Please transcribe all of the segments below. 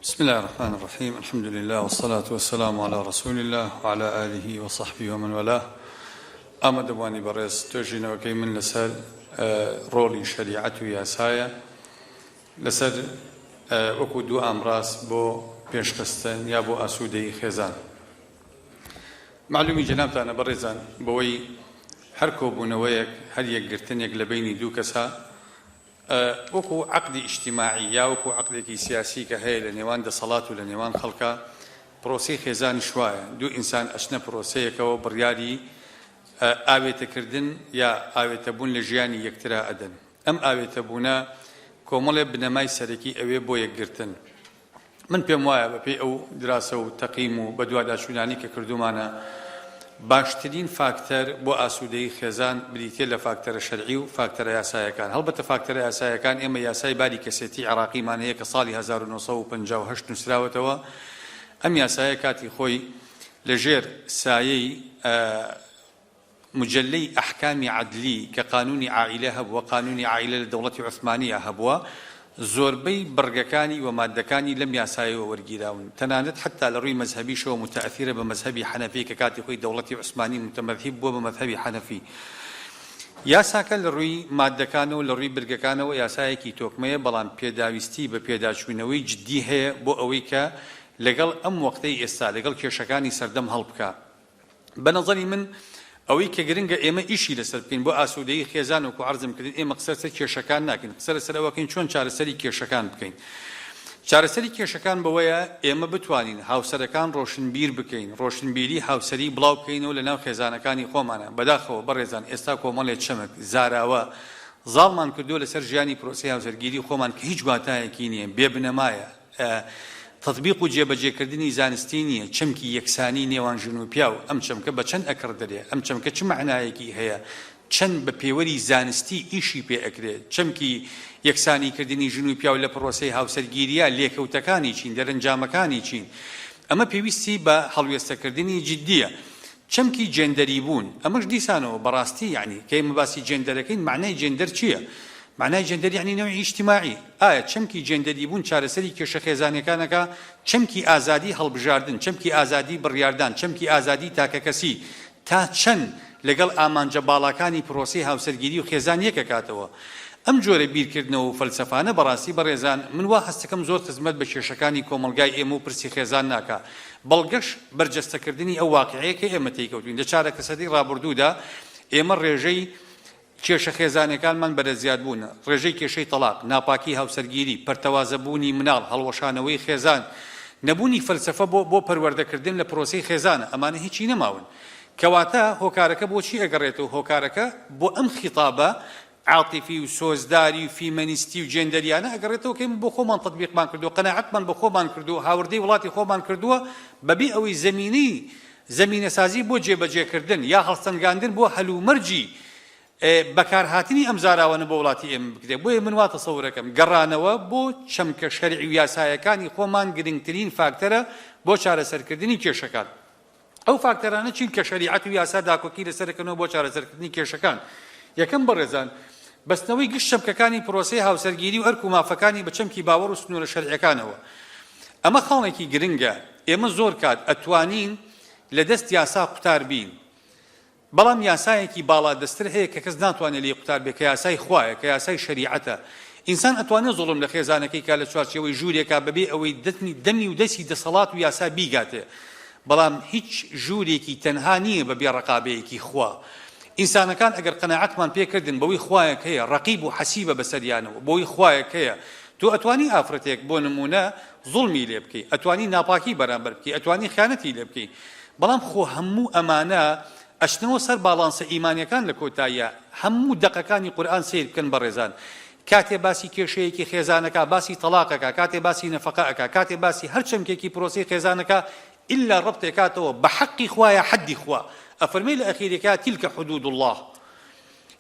بسم الله الرحمن الرحیم الحمد لله والصلاة والسلام علی رسول الله وعلى آله وصحبه ومن والاه ئامادەبوانی بەڕێز توێژینەوەکەی من لەسەر ڕۆڵی شریعەت و یاسایە لەسەر وەکو دوو ئامڕاز بۆ پێشخستن یا بۆ ئاسوودەی خێزان معلومی جەنابتانە بەڕێزان بەوەی هەر کۆبوونەوەیەک هەر یەکگرتنێک لە بینی دوو کەسە وەکو عەقدی ئیجتیماعی یا وەکو عەقدێکی سیاسی کە هەیە لە نێوان دەسەڵات و لە نێوان خەڵکا، پرۆسەی خێزانیش وایە، دوو ئینسان ئەچنە پرۆسەیەکەوە بڕیاری ئاوێتەکردن یا ئاوێتەبوون لە ژیانی یەکترا ئەدەن. ئەم ئاوێتەبوونە کۆمەڵێ بنەمای سەرەکی ئەوێ بۆ یەکگرتن. من پێم وایە بە پێی ئەو دراسە و تەقیم و بەدواداچوونانی کە کردوومانە باشترین فاکتەر بۆ ئاسوودەیی خێزان بریتیە لە فاکتەرە شەرعی و فاکتەرە یاسایەکان هەڵبەتە فاکتەرە یاسایەکان ئێمە یاسای باری کەسێتی عێراقیمان هەیە کە ساڵی 1958 نووسراوەتەوە ئەم یاسایە کاتی خۆی لەژێر سایەی مجەلەی ئەحکامی عەدلی کە قانوونی عائیلە هەبووە، قانوونی عائیلە لە دەوڵەتی عوسمانییا هەبووە، زۆربەی بڕگەکانی و ماددەکانی لەم یاسایەوە وەرگیراون، تەنانەت حەتتا لە ڕووی مەزهەبیشەوە موتەئەثیرە بە مەزهەبی حەنەفی کە کاتی خۆی دەوڵەتی عوسمانی موتەمەذهیب بووە بە مەزهەبی حەنەفی. یاساکە لە ڕووی ماددەکان و لە ڕووی برگەکانەوە یاسایەکی تۆکمەیە، بەڵام پێداویستی بە پێداچوونەوەی جددی هەیە بۆ ئەوەی کە لەگەڵ ئەم وەقتەی ئێستا، لەگەڵ کێشەکانی سەردەم هەڵبکا. بە نەزەری من ئەوەی کە گرنگە ئێمە ئیشی لەسەر بکەین بۆ ئاسوودەیی خێزان وەکو عەرزم کردین ئێمە قسە لەسەر کێشەکان ناکەین قسە لەسەر ئەوەکەین چۆن چارەسەری کێشەکان بکەین چارەسەری کێشەکان بەوەیە ئێمە بتوانین هاوسەرەکان ڕۆشنبیر بکەین ڕۆشنبیری هاوسەری بڵاو بکەینەوە لە ناو خێزانەکانی خۆمانە بەداخەوە بەڕێزان ئێستا کۆمەڵێ چەمک زاراوە زاڵمان کردووە لەسەر ژیانی پرۆسەی هاوسەرگیری خۆمان کە هیچ واتایەکی نییە بێ بنەمایە تەتبیق و جێبەجێکردنی زانستی نییە، چەمکی یەکسانی نێوان ژن و پیاو، ئەم چەمکە بە چەند ئەکڕدرێ، ئەم چەمکە چ مەعنایەکی هەیە، چەند بە پێوەری زانستی ئیشی پێ ئەکرێ، چەمکی یەکسانیکردنی ژن و پیاو لە پڕۆسەی هاوسەرگیرییە لێکەوتەکانی چین، دەرەنجامەکانی چین؟ ئەمە پێویستی بە هەڵوێستەکردنی جدییە. چەمکی جێندەری بوون ئەمەش دیسانەوە بەڕاستی یەعنی کە ئێمە باسی جێندەرەکەین مەعنای جێندەر چییە؟ مەعنای جێندەر یەعنی نەوعی ئیجتیماعی. ئایا چەمکی جێندەری بوون چارەسەری کێشە خێزانیەکانەکا؟ چەمکی ئازادی هەڵبژاردن، چەمکی ئازادی بڕیاردان، چەمکی ئازادی تاکەکەسی تا چەند لەگەڵ ئامانجە باڵاکانی پرۆسەی هاوسەرگیری و خێزان یەک ئەکاتەوە؟ ئەم جۆرە بیرکردنەوە و فەلسەفانە بەڕاستی بەڕێزان من وا هەستەکەم زۆر خزمەت بە کێشەکانی کۆمەڵگای ئێمە و پرسی خێزان ناکا بەڵگەش بەرجەستەکردنی ئەو واقیعەیە کە ئێمە تێیکەوتووین. لە چارەکەسەدەی ڕابوردوودا ئێمە ڕێژەی کێشە خێزانیەکانمان بەرەزیادبوون، ڕێژەی کێشەی تەڵاق، ناپاکی هاوسەرگیری، پەرتەوازە بوونی مناڵ، هەڵوەشانەوەی خێزان، نەبوونی فەلسەفە بۆ بۆ پەروەردەکردن لە پرۆسەی خێزانە، ئەمانە هیچی نەماون. کەواتە هۆکارەکە بۆچی ئەگەڕێتەوە هۆکارەکە بۆ ئەم خیتابە عاتیفی و سۆزداری و فیمەنیستی و جێندەریانە ئەگەڕێتەوە کە ئێمە بۆ خۆمان تەتبیقمان کردووە، قەناعەتمان بە خۆمان کردووە، هاوردەی وڵاتی خۆمان کردووە بەبێ ئەوەی زەمینەی زەمینەسازی بۆ جێبەجێکردن یا هەڵسەنگاندن بۆ هەلومەرجی بەکارهاتنی ئەم زاراوانە بۆ وڵاتی ئێمە بکرێت. بۆیە من وا تەسەورەکەم گەڕانەوە بۆ چەمکە شەرعی و یاسایەکانی خۆمان گرنگترین فاکتەرە بۆ چارەسەرکردنی کێشەکان. ئەو فاکتەرانە چین کە شەریعەت و یاسا داکۆکی لەسەر دەکەنەوە بۆ چارەسەرکردنی کێشەکان؟ یەکەم، بەڕێزان، بەستنەوەی گشت چەمکەکانی پرۆسەی هاوسەرگیری و ئەرک و مافەکانی بە چەمکی باوەڕ و سنوورە شەرعیەکانەوە. ئەمە خاڵێکی گرنگە، ئێمە زۆر کات ئەتوانین لە دەست یاسا قوتار بین. بەڵام یاسایەکی باڵادەستر هەیە کە کەس ناتوانێ لێی قوتار بێ کە یاسای خوایە کە یاسای شەریعەتە ئینسان ئەتوانێ زوڵم لە خێزانەکەی کا لە چوارچێوەی ژوورێکا بەبێ ئەوەی دەتنی دەمی و دەسی دەسەڵات و یاسا بیگاتێ بەڵام هیچ ژوورێکی تەنها نییە بە بێ ڕەقابەیەکی خوا ئینسانەکان ئەگەر قەناعەتمان پێ کردن بەوەی خوایەک هەیە ڕەقیب و حەسیبە بەسەریانەوە بەوەی خوایەک هەیە تۆ ئەتوانی ئافرەتێک بۆ نموونە زوڵمی لێ بکەی ئەتوانی ناپاکی بەرامبەر بکەی ئەتوانی خیانەتی لێ بکەی بەڵام خۆ هەموو ئەمانە ئەچنەوە سەر باڵانسە ئیمانیەکان لە کۆتاییا هەموو دەقەکانی قورئان سەیر بکەن بەڕێزان کاتێ باسی کێشەیەکی خێزان ئەکا باسی تەڵاق ئەکا کاتێ باسی نەفەقە ئەکا کاتێ باسی هەر چەمکێکی پرۆسەی خێزان ئەکا ئیلا ڕەبتێ کاتەوە بە حەقی خوایە حەدی خوا ئەفەرمێ لە ئەخیرێکا تیلکە حدود اللە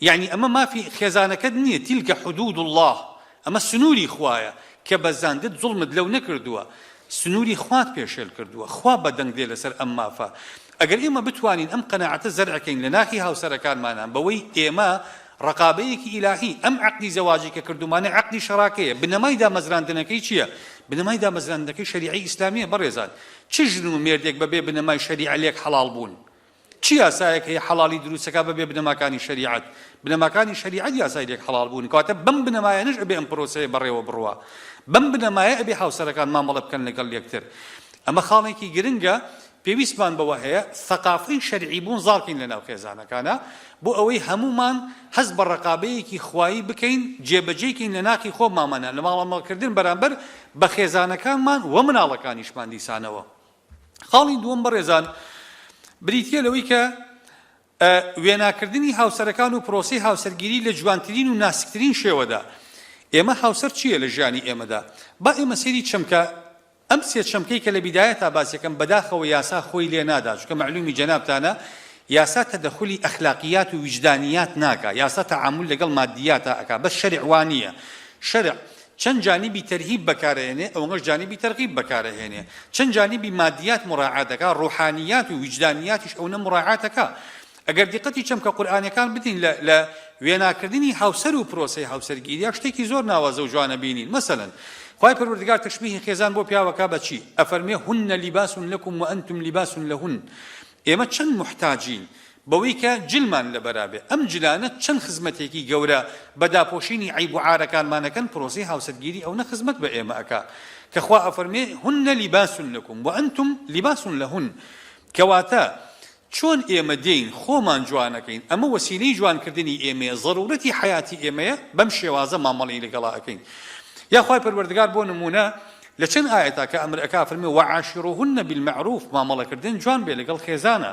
یەعنی ئەمە مافی خێزانەکەت نییە تیلکە حدود اللە ئەمە سنووری خوایە کە بەزاندت زوڵمت لەو نەکردووە، سنووری خوات پێشێل کردووە، خوا بەدەنگ دێ لەسەر ئەم مافە. ئەگەر ئێمە بتوانین ئەم قەناعەتە زەرعکەین لە ناخی هاوسەرەکانمانا بەوەی ئێمە ڕەقابەیەکی ئیلاهی، ئەم عەقدی زەواجی کە کردوومانە عەقدی شەراکەیە، بنەمای دامەزراندنەکەی چییە؟ بنەمای دامەزراندنەکەی شەریعەی ئیسلامییە بەڕێزان، چ ژن و مێردێک بەبێ بنەمای شەریعە لێک حەڵاڵ بوون؟ چ یاسایەک هەیە حەڵاڵی دروستەکا بەبێ بنەماکانی شەریعەت؟ بنەماکانی شەریعەت یاسای لێک حەڵاڵ بوون، کەواتە بەم بنەمایانەش ئەبێ ئەم پرۆسەیە بەڕێوە بڕوا. بەم بنەمایە ئەبێ هاوسەرەکان مامەڵە بکەن لەگەڵ یەکتر. ئەمە خاڵێکی گرنگە پێویستمان بەوە هەیە سەقافەی شەرعی بوون زاڵ کەین لەناو خێزانەکانا، بۆ ئەوەی هەموومان هەست بە ڕەقابەیەکی خوایی بکەین، جێبەجێی کەین لە ناخی خۆمامانا لە ماڵەماڵکردن بەرامبەر بە خێزانەکانمان و مناڵەکانیشمان دیسانەوە. خاڵی دووەم بەڕێزان بریتییە لەوەی کە وێناکردنی هاوسەرەکان و پرۆسی هاوسەرگیری لە جوانترین و ناسکترین شێوەدا ئێمە هاوسەر چییە لە ژیانی ئێمەدا با ئێمە سێری چەمکە ئەم سێ چەمکەی کە لە بیدایە تا باسیەکەم بەداخەوە یاسا خۆی لێ نادا چکە معلومی جەنابتانە یاسا تەدەخلی ئەخلاقیات و ویجدانیات ناکە یاسا تەعامل لەگەڵ مادیاتە ئەک بە شەرعوانیە شەرع چەند جانیبی تەرهیب بەکارئەهێنێ ئەوەنەش جانیبی تەرغیب بەکارئەهێنێ چەند جانیبی مادیات مراعات ئەکا ڕوحانیات و ویجدانیاتیش ئەونە مراعات ئەکا ئەگەر دیقەتی چەمکە قورئانیەکان بدەین لە لە وێناکردنی هاوسەر و پرۆسەی هاوسەرگیریا شتێکی زۆر ناوازە و جوان ئەبینین مەسەلەن خوای پەروەردگار تەشبیهی خێزان بۆ پیاو ئەکا بە چی ئەفەرموێ هن لباس لکم وانتم لباس لهن ئێمە چەند موحتاجین بەوەی کە جلمان لەبەرا بێ، ئەم جلانە چەند خزمەتێکی گەورە بە داپۆشینی عەیب و عارەکانمان ئەکەن، پرۆسەی هاوسەرگیری ئەونە خزمەت بە ئێمە ئەکا کە خوا ئەفەرمێ، هن لباس لکم و انتم لباس لهن، کەواتە چۆن ئێمە دێین خۆمان جوان ئەکەین، ئەمە وەسیلەی جوان کردنی ئێمەیە، زەرورەتی حەیاتی ئێمەیە، بەم شێوازە مامەڵەی لەگەڵا ئەکەین. یا خوای پەروەردگار بۆ نموونە لە چەند ئایەتا کە ئەمر ئەکا ئەفەرمێ، وعاشروهن بالمعروف، مامەڵەکردن جوان بێ لەگەڵ خێزانا،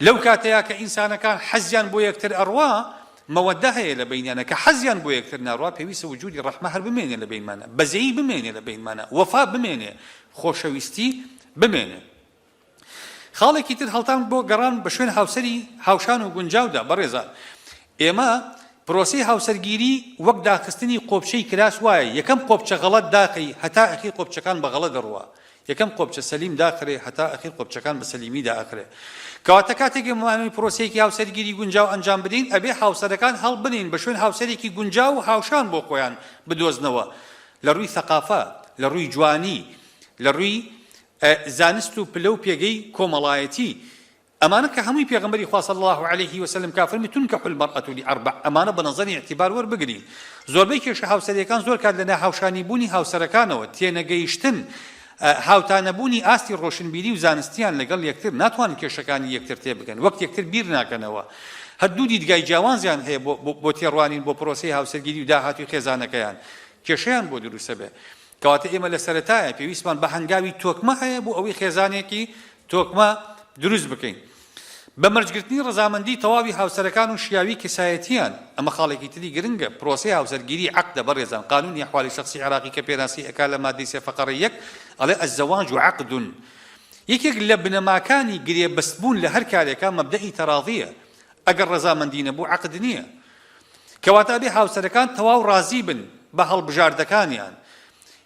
لەو کاتەیا کە ئینسانەکان حەزیان بۆ یەکتر ئەڕوا مەوەدە هەیە لە بەینیانا کە حەزیان بۆ یەکتر ناڕوا پێویستە وجودی ڕەحمە هەر بمێنێ لە بەینمانا بەزەیی بمێنێ لە بەینمانا وەفا بمێنێ خۆشەویستی بمێنێ خاڵێکی تر هەڵتان بۆ گەڕان بە شوێن هاوسەری هاوشان و گونجاودا بەڕێزان ئێمە پرۆسی هاوسەرگیری وەک داخستنی قۆپچەی کراس وایە یەکەم قۆپچە غەڵەت داخی هەتا ئەخیر قۆپچەکان بە غەڵە دەڕوا یەکەم قۆپچە سەلیم داخرێ هەتا ئەخیر قۆپچەکان بە سەلیمی دائەخرێ کەواتە کاتێک ئێمەمانەوێ پرۆسەیەکی هاوسەرگیری گونجاو ئەنجام بدەین ئەبێ هاوسەرەکان هەڵبنێین بە شوێن هاوسەرێکی گونجاو و هاوشان بۆ خۆیان بدۆزنەوە لە ڕووی سەقافە لە ڕووی جوانی لە ڕووی زانست و پلە و پێگەی کۆمەڵایەتی ئەمانە کە هەمووی پێغەمبەری خوا صلی اللە علیە و سلم کە فەرمی تنکح المرئە لاربع ئەمانە بە نەزەری اعتبار وەربگرین زۆربەی کێشە هاوسەریەکان زۆر کات لە ناهاوشانی بوونی هاوسەرەکانەوە تێنەگەیشتن هاوتانەبوونی ئاستی ڕۆشنبیری و زانستیان لەگەڵ یەکتر ناتوانن کێشەکانی یەکتر تێبگەن وەک یەکتر بیر ناکەنەوە هەر دوو دیدگای جیاوانزیان هەیە بۆ بۆ تێڕوانین بۆ پرۆسەی هاوسەرگیری و داهاتوی خێزانەکەیان کێشەیان بۆ دروستە بێ کەواتە ئێمە لە سەرەتایە پێویستمان بە هەنگاوی تۆکمە هەیە بۆ ئەوەی خێزانێکی تۆکمە دروست بکەین. بە مەرجگرتنی ڕەزامەندی تەواوی هاوسەرەکان و شیاوی کەسایەتییان، ئەمە خاڵێکی تری گرنگە، پرۆسەی هاوسەرگیری عەقدە بەڕێزان، قانونی احوال شخصی عێراقی کە پێناسی ئەکا لە ماددەی سێ فەقەرە یەک ئەڵێ، الزواج عقد، یەکێک لە بنەماکانی گرێبەستبوون لە هەر کارێکا مەبدەئی تەڕاضییە، ئەگەر ڕەزامەندی نەبوو عەقد نییە. کەواتە ئەبێ هاوسەرەکان تەواو ڕازی بن بە هەڵبژاردەکانیان،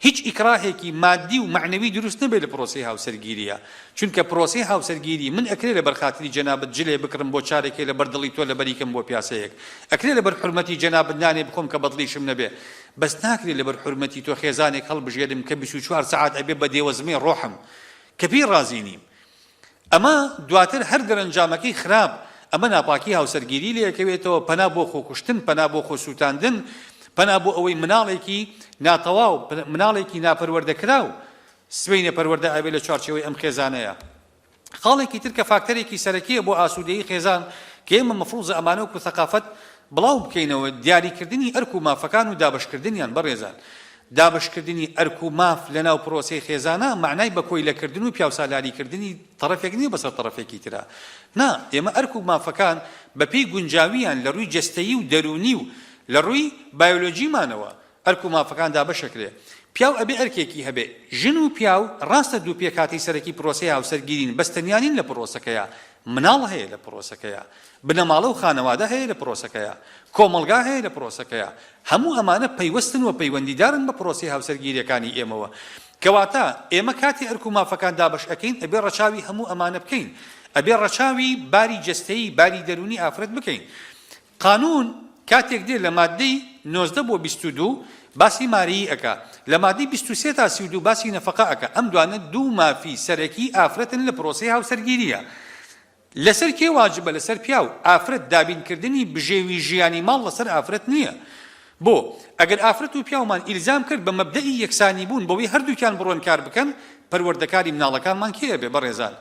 هیچ ئیکڕاهێکی ماددی و مەعنەوی دروست نەبێت لە پرۆسەی هاوسەرگیرییە، چونکە پرۆسەی هاوسەرگیری من ئەکرێ لەبەر خاتری جەنابت جلێ بکڕم بۆ چارەکێ لەبەر دڵی تۆ لەبەری کەم بۆ پیاسەیەک ئەکرێ لەبەر حورمەتی جەنابت نانێ بخۆم کە بەدڵیشم نەبێ بەس ناکرێ لەبەر حورمەتی تۆ خێزانێک هەڵبژێرم کە بیست و چوار سەعات ئەبێ بە دێوەزمەی ڕۆحم کە پێی ڕازی نیم ئەمە دواتر هەر دەرەنجامەکەی خراپ، ئەمە ناپاکی هاوسەرگیری لێکەوێتەوە، پەنا بۆ خۆکوشتن، پەنا بۆ خۆسووتاندن، پەنا بۆ ئەوەی مناڵێکی ناتەواو، مناڵێکی ناپەروەردەکراو سبەینێ پەروەردە ئەبێت لە چوارچێوەی ئەم خێزانەیە. خاڵێکی تر کە فاکتەرێکی سەرەکییە بۆ ئاسوودەیی خێزان کە ئێمە مەفرووزە ئەمانە وەکوو سەقافەت بڵاو بکەینەوە، دیاریکردنی ئەرک و مافەکان و دابەشکردنیان. بەڕێزان دابەشکردنی ئەرک و ماف لە ناو پرۆسەی خێزانە مەعنای بە کۆیلەکردن و پیاوسالاریکردنی تەڕەفێک نییە بەسەر تەڕەفێکی ترا. نا، ئێمە ئەرک و مافەکان بە پێی گونجاوییان لە رووی جەستەیی و دەروونی و لە رووی بایۆلۆجیمانەوە ئەرک و مافەکان دابەش ئەکرێ. پیاو ئەبێ ئەرکێکی هەبێ. ژن و پیاو راستە دوو پێکهاتەی سەرەکی پرۆسەی هاوسەرگیرین بەس تەنیا نین لە پرۆسەکەیا. مناڵ هەیە لە پرۆسەکەیا. بنەماڵە و خانەوادە هەیە لە پرۆسەکەیا، کۆمەڵگا هەیە لە پرۆسەکەیا، هەموو ئەمانە پەیوەستن و پەیوەندیدارن بە پرۆسەی هاوسەرگیریەکانی ئێمەوە. کەواتە ئێمە کاتێ ئەرک و مافەکان دابەش ئەکەین ئەبێ ڕەچاوی هەموو ئەمانە بکەین. ئەبێ ڕەچاوی باری جەستەیی، باری دەروونی ئافرەت بکەین. قانوون کاتێک دێ لە ماددەی نۆزدە بۆ بیست و دوو باسی ماریی ئەکا، لە ماددەی بیست و سێ تا سی و دوو باسی نەفەقە ئەکا، ئەم دوانە دوو مافی سەرەکی ئافرەتن لە پرۆسەی هاوسەرگیرییا. لەسەر کێ واجبە لەسەر پیاو ئافرەت دابین کردنی بژێوی ژیانی ماڵ لەسەر ئافرەت نیە بۆ ئەگەر ئافرەت و پیاومان ئیلزام کرد بە مەبدەئی یەکسانی بوون بەوەی هەردووکیان بڕۆن کار بکەن پەروەردەکاری مناڵەکانمان کێ ئەبێ بەڕێزان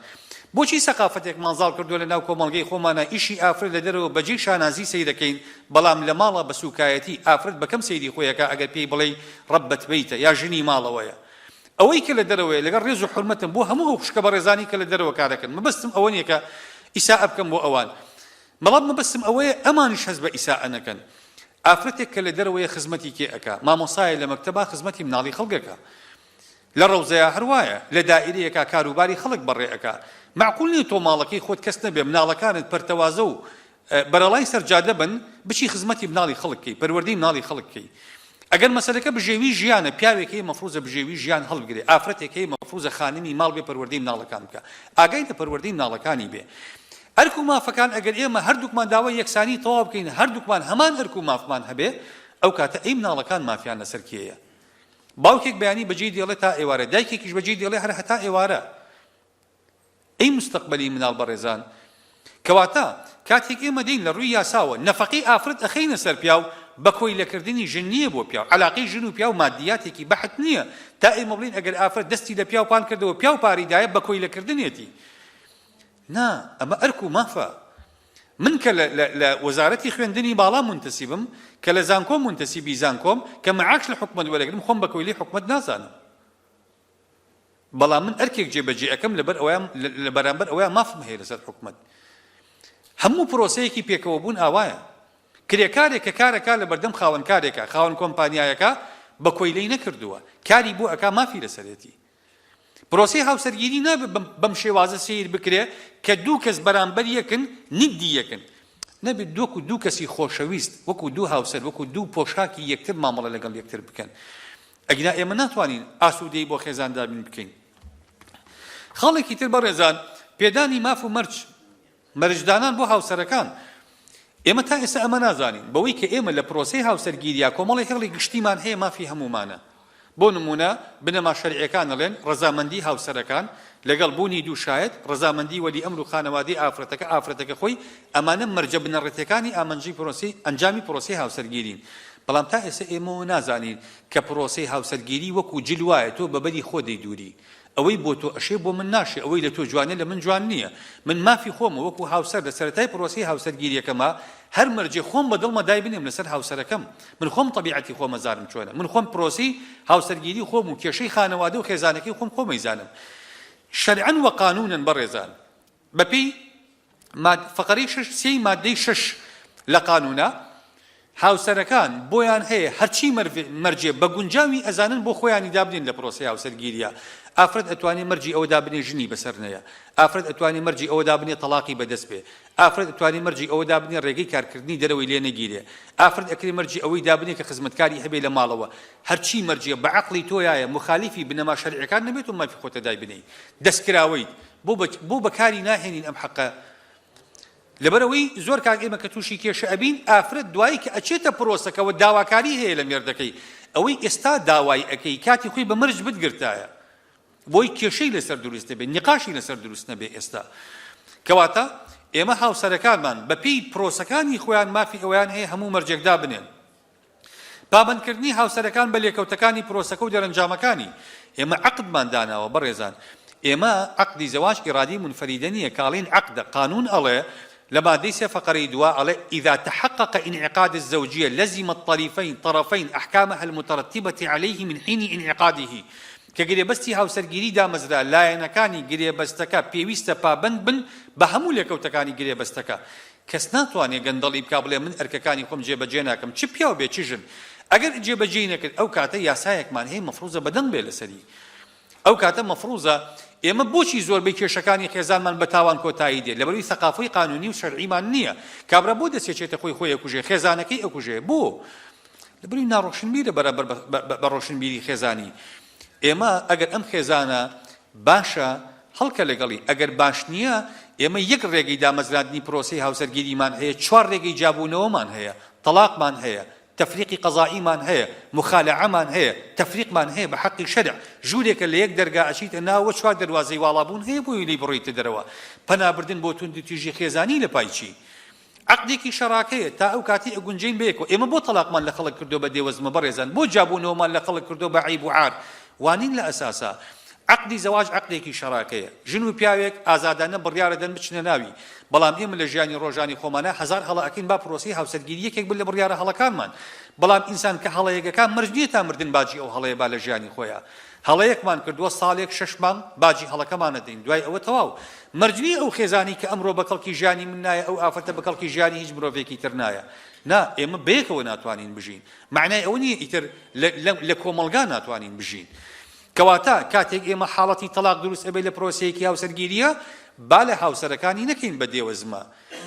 بۆچی سەقافەتێکمان زاڵ کردوە لە ناو کۆمەڵگەی خۆمانا ئیشی ئافرەت لە دەرەوە بە جێی شانازی سەیرەکەین بەڵام لە ماڵا بە سوکایەتی ئافرەت بە کەم سەیری خۆی ئەکا ئەگەر پێی بڵێی ڕەبەت بەیتە یا ژنی ماڵەوەیە ئەوەی کە لە دەرەوەیە لەگەڵ ڕێز و حورمەتم بۆ هەموو ئەو خوشکە بەڕێزانەی کە لە دەرەوە کارەکەن مەبەستم ئەوە نیە کە ئیسائە بکەم بۆ ئەوان بەڵام مەبەستم ئەوەیە ئەمانیش هەست بە ئیسائە نەکەن ئافرەتێک کە لە دەرەوەیە خزمەتی کێ ئەکا مامۆسایە لە مەکتەبا خزمەتی مناڵی خەڵکەکە لە ڕەوزەیە هەروایە لە دائیرەیەکا کاروباری خەڵک بەڕێ ئەکا معقول نیە تۆ ماڵەکەی خۆت کەس نەبێ مناڵەکانت پەرتەوازە و بەرەڵای سەرجادە بن بچی خزمەتی مناڵی خەڵک کەی پەروەردەی مناڵی خەڵک کەی ئەگەر مەسەلەکە بژێوی ژیانە پیاوێک هەیە مەفروزە بژێوی ژیان هەڵبگرێ ئافرەتێک هەیە مەفروزە خانمی ماڵ بێ پەروەردەی مناڵەکان بکە ئاگای لە پەروەردەی مناڵەکانی بێ ئەرک و مافەکان ئەگەر ئێمە هەردووکمان داوای یەکسانی تەواو بکەین هەردووکمان هەمان ئەرک و مافمان هەبێ ئەو کاتە ئەی مناڵەکان مافیان لەسەر کێیە باوکێک بەیانی بەجێی دێڵێ تا ئێوارە دایکێکیش بەجێی دێڵێ هەر هەتا ئێوارە ی مستەقبەلی مناڵ بەڕێزان کەواتە کاتێک ئێمە دێین لە ڕووی یاساوە نەفەقەی ئافرەت ئەخەینە سەر پیاو بە کۆیلە کردنی ژن نییە بۆ پیاو عەلاقەی ژن و پیاو مادیاتێکی بەحت نییە تا ئێمە بڵێین ئەگەر ئافرەت دەستی لە پیاو پان کردەوە پیاو پاری دایە بە کۆیلە کردنێتی نا ئەمە ئەرک و مافە من کە لە وەزارەتی خوێندنی باڵا منتەسیبم کە لە زانکۆ منتەسیبی زانکۆم کە معاش لە حکومەت وەرەگرم خۆم بە کۆیلەی حکومەت نازانم بەڵام من ئەرکێک جێ بە جێ ئەکەم لەبەر ئەوەیان لە بەرامبەر ئەوەیان مافم هەیە لەسەر حکومەت هەموو پرۆسەیەکی پێکەوە بوون ئاوایە کرێکارێک کە کارەکە لە بەردەم خاوەن کارێکە خاوەن کۆمپانیایەکە بە کۆیلەی نەکردووە کاری بۆ ئەکا مافی لەسەرێتی پرۆسی هاوسەرگیری نابێت بەم شێوازە سیر بکرێ کە دوو کەس بەرامبەر یەکن ندی یەکن نەبێت دووەکو دوو کەسی خۆشەویست وەکو دوو هاوسەر وەکو دوو پۆشاکی یەکتر مامەڵە لەگەڵ یەکتر بکەن ئەگینا ئێمە ناتوانین ئاسوودەیی بۆ خێزان دابین بکەین. خاڵێکی تر بەڕێزان پێدانی ماف و مەرج، مەرجدانان بۆ هاوسەرەکان، ئێمە تا ئێستا ئەمە نازانین، بەوەی کە ئێمە لە پرۆسەی هاوسەرگیرییە کۆمەڵێ هێڵی گشتیمان هەیە مافی هەموومانە، بۆ نموونە بنەما شەرعییەکان ئەڵێن ڕەزامەندی هاوسەرەکان لەگەڵ بوونی دوو شاید، ڕەزامەندی وەلی ئەمر و خانەوادەی ئافرەتەکە، ئافرەتەکە خۆی، ئەمانە مەرجە بنەڕەتیەکانی ئامنجی پرۆسەی ئەنجامی پرۆسەی هاوسەرگیرین. بەڵام تا ئێستا ئێمە ئەوە نازانین کە پرۆسەی هاوسەرگیری وەکو جل وایە تۆ بە بەری خۆ دەیدوری. ئەوەی بۆ تۆ ئەشێ بۆ من ناشێ، ئەوەی لە تۆ جوانە لە من جوان نیە. من مافی خۆمە وەکو هاوسەر لە سەرەتای پرۆسەی هاوسەرگیریەکەما هەر مەرجێ خۆم بە دڵمە دایبنێم لەسەر هاوسەرەکەم. من خۆم تەبیعەتی خۆم ئەزانم چۆنە، من خۆم پرۆسەی هاوسەرگیری خۆم و کێشەی خانەوادە و خێزانەکەی خۆم خۆم ئەیزانم شەرعەن و قانوونەن بەڕێزان بەپێی ماد فقرەی شش سێی مادەی شش لە قانوونە هاوسەرەکان بۆیان هەیە هەرچی مەرجێ بە گونجاوی ئەزانن بۆ خۆیانی دابنێن لە پرۆسی هاوسەرگیریە ئافرەت ئەتوانێت مەرجی ئەوە دابنێ ژنی بەسەر نەیە ئافرەت ئەتوانێت مەرجی ئەوە دابنێ تەلاقی بەدەست بێ ئافرەت ئەتوانێ مەرجی ئەوە دابنێ ڕێگەی کارکردنی دەرەوەی لێ نەگیرێ، ئافرەت ئەکرێ مەرجی ئەوەی دابنێ کە خزمەتکاری هەبێ لە ماڵەوە، هەرچی مەرجە بە عەقڵی تۆیایە موخالیفی بنەما شەرعیەکان نەبێت و مافی خۆتە دایبنێی دەستکراوەیت، بۆ بە بۆ بەکاری ناهێنین ئەم حەقە؟ لەبەر ئەوەی زۆر کات ئێمە کە تووشی کێشە ئەبین ئافرەت دوایی کە ئەچێتە پرۆسەکەوە داواکاری هەیە لە مێردەکەی ئەوەی ئێستا داوای ئەکەی کاتی خۆی بە مەرج بتگرتایە بۆی کێشەی لەسەر دروست نەبێت، نیقاشی لەسەر دروست نەبێت ئێستا. کەواتە ئێمە هاوسەرەکانمان بەپێی پرۆسەکانی خۆیان مافی ئەوەیان هەیە هەموو مەرجێک دابنێن. پابەندکردنی هاوسەرەکان بە لێکەوتەکانی پرۆسەکە و دەرەنجامەکانی. ئێمە عەقدمان داناوە بەڕێزان. ئێمە عەقدی زەواج ئیرادەی منفەریدە نییە کە ئەڵێین عەقدە، قانوون ئەڵێ لە مادەی سێ فەقرەی دوا ئەڵێ، اذا تحقق انعقاد الزوجیە لزم الطریفین، طرفین، احکامها المترتبە علیه من حین انعقاده کە گرێبەستی هاوسەرگیری دامەزرا لایەنەکانی گرێبەستەکە پێویستە پابەند بن بە هەموو لێکەوتەکانی گرێبەستەکە کەس ناتوانێت گەندەڵی بکات بڵێت من ئەرکەکانی خۆم جێبەجێ ناکەم چ پیاو بێت چ ژن ئەگەر جێبەجێی نەکرد ئەو کاتە یاسایەکمان هەیە مەفروزە بەدەنگ بێت لەسەری ئەو کاتە مەفروزە ئێمە بۆچی زۆربەی کێشەکانی خێزانمان بە تاوان کۆتایی دێت لەبەروی سەقافۆی قانونی و شەرعیمان نییە کابرا بۆ دەسێچێتە خۆی خۆی ئەکوژێ خێزانەکەی ئەکوژێ بۆ لەبری ناڕۆشنبیرە بەرامبەر بە ڕۆشنبیری خێزانی ئێمە ئەگەر ئەم خێزانە باشە هەڵکە لەگەڵی ئەگەر باش نییە ئێمە یەک ڕێگەی دامەزراندنی پرۆسی هاوسەرگیریمان هەیە چوار ڕێگەی جابوونەوەمان هەیە تەلاقمان هەیە تفریقی قەزائیمان هەیە مخالعەمان هەیە تفریقمان هەیە بە حەقی شەرع ژوورێکە لە یەک دەرگا ئەچیتە ناوە چوار دەواازەی واڵابوون هەیە بۆی لی بڕیتە دەرەوە پەنابردن بۆ توندتیژی خێزانی لە پایچی عەقدێکی شەراکەیە تا ئەو کاتەی ئەگونجێین بەیەکەوە ئێمە بۆ تەڵاقمان لە خەڵک کردوە بە دێوەزمە بەڕێزان بۆ جیابونەوەمان لە خەڵک کردوە بە عەیب و عار وانین لە ئەساسا عەقدی زەواج عەقدێکی شەراکەیە ژن و پیاوێک ئازادانە بڕیارەدەن بچنە ناوی بەڵام ئێمە لە ژیانی ڕۆژانی خۆمانا هەزار هەڵە ئەکەین با پرۆسەی هاوسەرگیری یەکێک بن لە بڕیارە هەڵەکانمان بەڵام ئینسان کە هەڵەیەک ئەکا مەرج نیە تا مردن باجی ئەو هەڵەیە با لە ژیانی خۆیا هەڵەیەکمان کردووە ساڵێک شەش مانگ باجی هەڵەکەمان ئەدەین دوای ئەوە تەواو مەرج نیە ئەو خێزانی کە ئەمڕۆ بە کەڵکی ژیانی من نایە ئەو ئافرەتە بە کەڵکی ژیانی هیچ مرۆڤێکی تر نایە نا ئێمە بەیەکەوە ناتوانین بژین مەعنای ئەوە نیە ئیتر لە کۆمەڵگا ناتوانین بژین کەواتە کاتێک ئێمە حاڵەتی تەلاق دروست ئەبێت لە پرۆسەیەکی هاوسەرگیریە با لە هاوسەرەکانی نەکەین بە دێوەزمە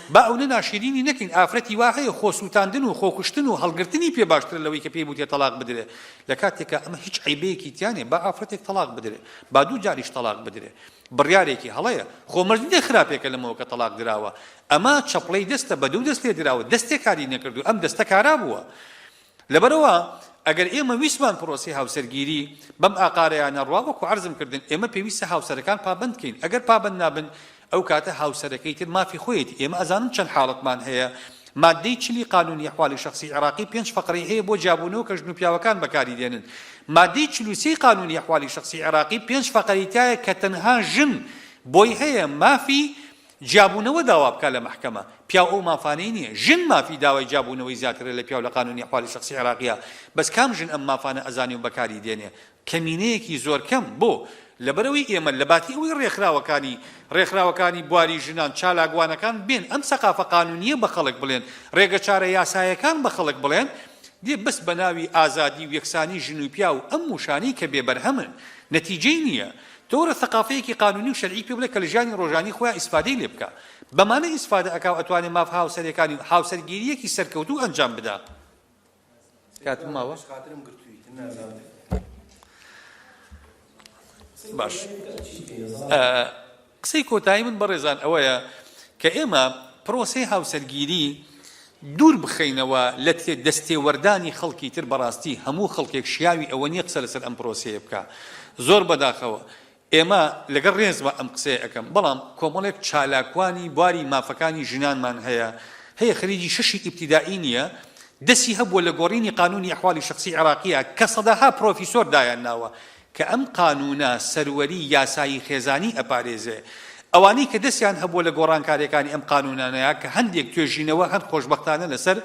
با ئەونە ناشیرینی نەکەین ئافرەتی وا هەیە خۆ سوتاندن و خۆ کوشتن و هەڵگرتنی پێ باشترە لەوەی کە پێی بوتێ تەڵاق بدرێ لە کاتێکا ئەمە هیچ عەیبەیەکی تیا نیە با ئافرەتێک تەڵاق بدرێ با دوو جاریش تەڵاق بدرێ بڕیارێکی هەڵەیە خۆ مەرج نیە خراپێکە لەمەوە کە تەڵاق دراوە ئەمە چەپڵەی دەستە بە دوو دەست لێ دراوە دەستێ کاری نەکردوە ئەم دەستە کارا بوە لەبەرئەوە ئەگەر ئێمە ویستمان پرۆسەی هاوسەرگیری بەم ئاقارەیە نەڕوا وەکو عەرزم کردن ئێمە پێویستە هاوسەرەکان پابەند کەین ئەگەر پابەند نابن ئەو کاتە هاوسەرەکەی تر مافی خۆیەتی ئێمە ئەزانم چەند حاڵەتمان هەیە مادەی چلی قانونی احوالی شخصی عێراقی پێنج فقرەی هەیە بۆ جیابوونەوە کە ژن و پیاوەکان بەکاری دێنن مادەی چل و سێی قانونی احوالی شخصی عێراقی پێنج فقرەی تایە کە تەنها ژن بۆی هەیە مافی جیابوونەوە داوا بکات لە مەحکەمە، پیاو ئەو مافانەی نیە، ژن مافی داوای جیابوونەوەی زیاترە لە پیاو لە قانونی احوال شخصی عێراقیە، بەس کام ژن ئەم مافانە ئەزانێ و بەکاری دێنێ؟ کەمینەیەکی زۆر کەم، بۆ؟ لەبەرئەوەی ئێمە لەباتی ئەوەی ڕێکخراوەکانی ڕێکخراوەکانی بواری ژنان چالاکوانەکان بێن ئەم سەقافە قانونیە بە خەڵک بڵێن، ڕێگە چارە یاسایەکان بە خەڵک بڵێن، دێ بەس بەناوی ئازادی و یەکسانی ژن و پیاو ئەم ووشانەی کە بێ بەرهەمن نەتیجەی نیە، تۆرە سەقافەیەکی قانونی و شەرعی پێ بڵێ کە لە ژیانی ڕۆژانەی خۆیا ئیسفادەی لێ بکا بەمانە ئیسفادە ئەکا و ئەتوانێ ماف هاوسەرێکانی و هاوسەرگیریەکی سەرکەوتوو ئەنجام بدا. کاتم ماوە؟ باش قسەی کۆتایی من بەڕێزان ئەوەیە کە ئێمە پرۆسەی هاوسەرگیری دوور بخەینەوە لە تێ دەستێوەردانی خەڵکی تر بەڕاستی هەموو خەڵکێک شیاوی ئەوە نیە قسە لەسەر ئەم پرۆسەیە بکا زۆر بەداخەوە ئێمە لەگەڵ ڕێزما ئەم قسەیە ئەکەم بەڵام کۆمەڵێک چالاکوانی بواری مافەکانی ژنانمان هەیە هەیە خریجی شەشی ئیبتیدائی نیە دەسی هەبووە لە گۆڕینی قانونی ئەحوالی شەخسی عێراقیە کە سەدەها پرۆفیسۆر دایان ناوە کە ئەم قانوونە سەروەری یاسایی خێزانی ئەپارێزێ. ئەوانەی کە دەستیان هەبووە لە گۆڕانکاریەکانی ئەم قانوونانەیا کە هەندێک توێژینەوە هەن خۆشبەختانە لەسەر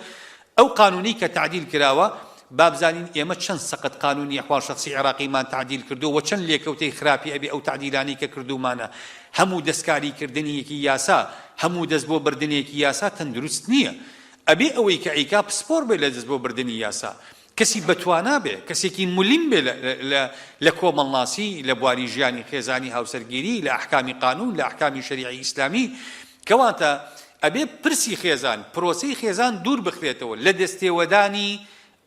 ئەو قانوونەی کە تەعدیل کراوە، با بزانین ئێمە چەند سەقەت قانوونی ئەحواڵ شەخسی عێراقیمان تەعدیل کردووە و چەند لێکەوتەی خراپی ئەبێ ئەو تەعدیلانەی کە کردوومانە. هەموو دەستکاری کردنیەکی یاسا، هەموو دەست بۆ بردنێکی یاسا تەندروست نیە. ئەبێ ئەوەی کە ئەیکا پسپۆڕ بێ لە دەست بۆ بردنی یاسا. کەسی بەتوانا بێ، کەسێکی ملم بێ لە لە کۆمەڵناسی، لە بواری ژیانی خێزانی، هاوسەرگیری، لە ئەحکامی قانوون، لە ئەحکامی شەریعی ئیسلامی. کەواتە ئەبێ پرسی خێزان، پرۆسەی خێزان دوور بخرێتەوە لە دەستێوەدانی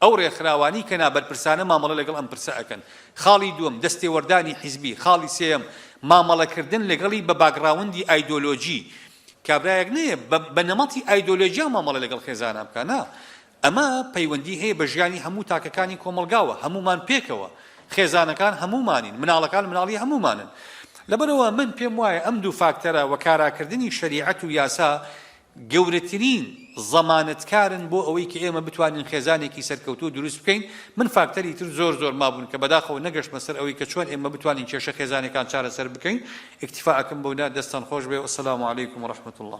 ئەو رێکخراوانەی کە نابەرپرسانە مامەڵە لەگەڵ ئەم پرسە ئەکەن. خاڵی دووەم، دەستێوەردانی حیزبی. خاڵی سێیەم، مامەڵەکردن لەگەڵی بە باکگراوندی ئایدۆلۆجی. کابرایەک نەیە بە بە نەمەتی ئایدۆلۆجیا مامەڵە لەگەڵ خێزانا بکا، نا. ئەمە پەیوەندی هەیە بە ژیانی هەموو تاکەکانی کۆمەڵگاوە، هەموومان پێکەوە، خێزانەکان هەموومانین، مناڵەکان مناڵی هەموومانن. لەبەرئەوە من پێم وایە ئەم دوو فاکتەرە و کاراکردنی شەریعەت و یاسا گەورەترین زەمانەتکارن بۆ ئەوەی کە ئێمە بتوانین خێزانێکی سەرکەوتوو دروست بکەین، من فاکتەری تر زۆر زۆر مابوون کە بەداخەوە نەگەشتمە سەر ئەوەی کە چۆن ئێمە بتوانین کێشە خێزانیەکان چارەسەر بکەین، ئیکتیفا ئەکەم بەودا، دەستتان خۆش بێ و السلام علیکم و رحمة اللە.